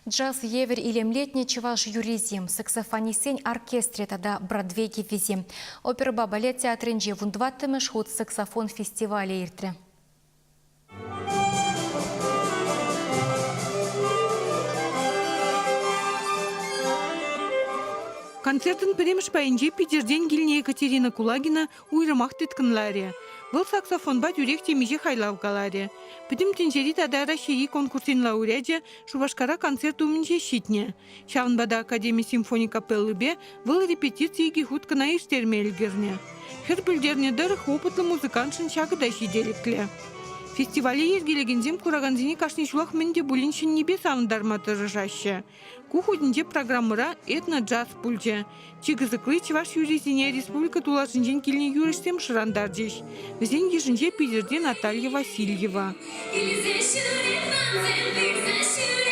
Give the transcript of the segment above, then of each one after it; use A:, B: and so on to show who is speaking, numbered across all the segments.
A: Джаз евӗр илемлетнӗ чӑваш юррисем, саксофонистсен оркестрӗ тата Бродвей кӗввисем, оперӑпа балет театрӗнче вунтӑваттӑмӗш хут саксофон фестивалӗ иртрӗ.
B: Концертӑн пӗрремӗш пайӗнче Питӗртен килнӗ Екатерина Кулагина уйрӑмах тыткӑнларӗ. Вӑл саксофонпа тӳрех темиҫе хайлав каларӗ. Пӗтӗм тӗнчери тата Раҫҫейри конкурсен лауреачӗ Шупашкара концерт умӗнче ҫитнӗ. Ҫавӑнпа та Академи симфони капеллипе вӑл репетици икӗ хут кӑна ирттерме ӗлкӗрнӗ. Хӗр пӗлтернӗ тӑрӑх, опытлӑ музыкантшӑн ҫакӑ та ҫителӗклӗ. Фестивале йӗркелекенсем куракансене кашни ҫулах мӗн те пулин ҫӗннипе савӑнтарма тӑрӑшаҫҫӗ. Ку хутӗнче программӑра «Этноджаз» пулчӗ. Чи кӑсӑкли чӑваш юррисене республика тулашӗнчен килнӗ юрӑҫсем шӑрантарчӗҫ. Вӗсен йышӗнче Питӗрте Наталья Васильева. Илсе ҫӳретман тӗллӗхсӗр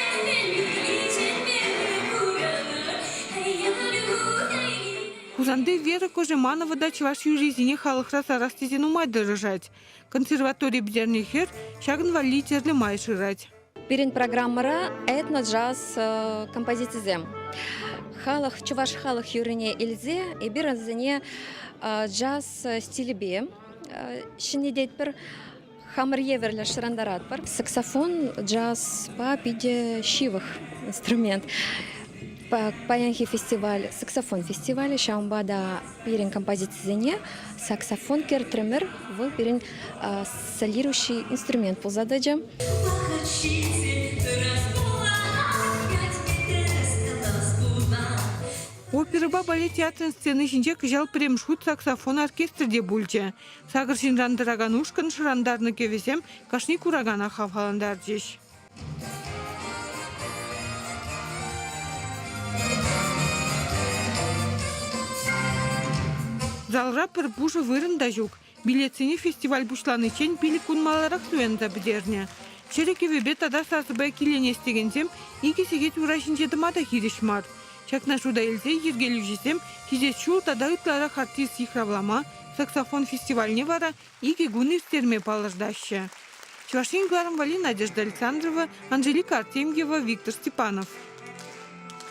B: Хусанти Вера Кожеманова та чӑваш юррисене халӑхра сарас тесе нумай тӑрӑшать. Консерватори пӗтернӗ хӗр ҫакӑн валли тӗрлӗ май шырать. Пирӗн программӑра
C: этно-джаз композицисем. Халӑх, чӑваш халӑх юррине илсе эпир вӗсене джаз стилӗпе ҫӗнететпӗр, хамӑр евӗрлӗ шӑрантаратпӑр. Саксофон джазпа питӗ ҫывӑх инструмент. Паянхи фестиваль, саксофон фестивалӗ, ҫавӑнпа та Пирӗн композицисене саксофон кертрӗмӗр. Вӑл пирӗн солирующий инструмент пулса тӑчӗ.
B: Оперӑпа балет театрӗн сцени ҫинче кӑҫал пӗрремӗш хут саксофон оркестрӗ те пулчӗ. Сакӑр ҫынран тӑракан ушкӑн шӑрантарнӑ кӗвӗсем кашни куракана хавхалантарчӗҫ. Залра пӗр пушӑ вырӑн та ҫук. Билетсене фестиваль пуҫланиччен пилӗк кун маларах туянса пӗтернӗ. Чӗрӗ кӗвӗпе тата сасӑпа киленес текенсем икӗ сехет ура ҫинче тӑма та хирӗҫ мар. Ҫакна шута илсе йӗркелӳҫӗсем хисеп ҫул тата ытларах артист йыхравлама, саксофон фестивальне вара Икӗ кун ирттерме палӑртаҫҫӗ. Чӑваш Ен кӑларӑмвӑлли Надежда Александрова, Анжелика Артемьева, Виктор Степанов.